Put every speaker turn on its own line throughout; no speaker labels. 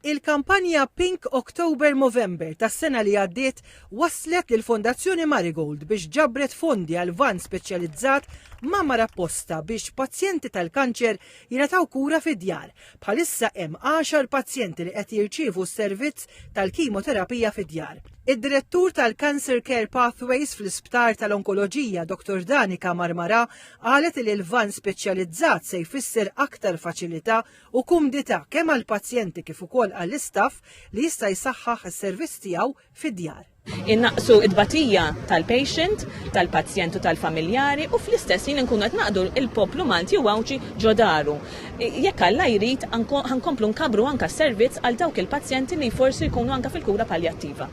Il-kampanja Pink October Movember tas-sena li għaddiet wasslet lill-Fondazzjoni Marigold biex ġabret fondi għal vann speċjalizzat mgħammar apposta biex pazjenti tal-kanċer jingħataw kura fid-djar. Bħalissa hemm għaxar pazjenti li qed jirċievu s-servizz tal-kimoterapija fid-djar. Id-Direttur tal-Cancer Care Pathways fl-Isptar tal-Onkoloġija Dr. Danika Marmara qalet li l-vann speċjalizzat se jfisser aktar faċilità u kumdità kemm għall-pazjenti kif ukoll għall-istaff li jista' jsaħħaħ is-servizz tiegħu fid-djar. Innaqqsu
t-tbatija tal-patient, tal-pazjent u tal-familjari u fl-istess ħin inkunu qed naqdu l-poplu Malti u Għawdxi ġo daru. Jekk Alla jrid, ħa nkomplu nkabbru anke s-servizz għal dawk il-pazjenti li forsi jkunu anke fil-kura paljattiva.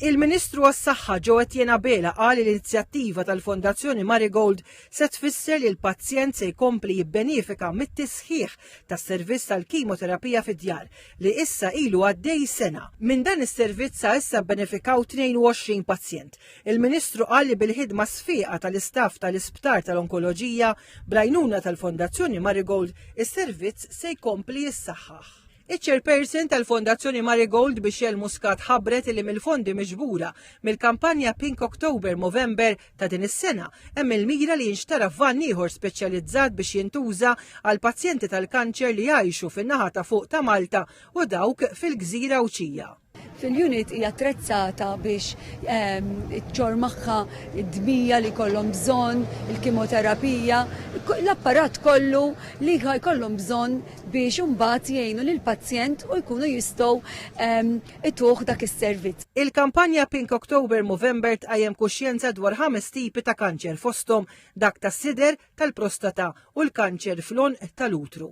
Il-Ministru
għas-Saħħa Joe Etienne Abela qal li l-inizjattiva tal-Fondazzjoni Marigold se tfisser li l-pazjent se jkompli jibbenefika mit-tisħiħ tas-servizz tal-kimoterapija fid-djar li issa ilu għaddej sena. Minn dan is-servizz sa issa bbenefikaw 22 pazjent. Il-Ministru qal li bil-ħidma sfieqa tal-istaff tal-Isptar tal-Onkoloġija bl-għajnuna tal-Fondazzjoni Marigold is-servizz se jkompli jissaħħaħ. Iċ-Chairperson tal-Fondazzjoni Marigold Michelle Muscat ħabbret li mill-fondi miġbura mill-kampanja Pink October Movember ta' din is-sena hemm il-mira li jinxtara vann ieħor speċjalizzat biex jintuża għal pazjenti tal-kanċer li jgħixu fin-naħa ta' fuq ta' Malta u dawk fil-Gżira Għawdxija. fil-unit hija
attrezzata biex ehm, ċor magħha d-dmija li kollhom bżonn, il-kimoterapija, l-apparat kollu li jkollhom bżonn biex imbagħad jgħinu lil pazjent u jkunu jistgħu ehm, ituh dak is-servizz. Il-kampanja Pink
October Movember tqajjem kuxjenza dwar ħames tipi ta' kanċer fosthom dak tas-sider, tal-prostata u l-kanċer fl-onq tal-utru.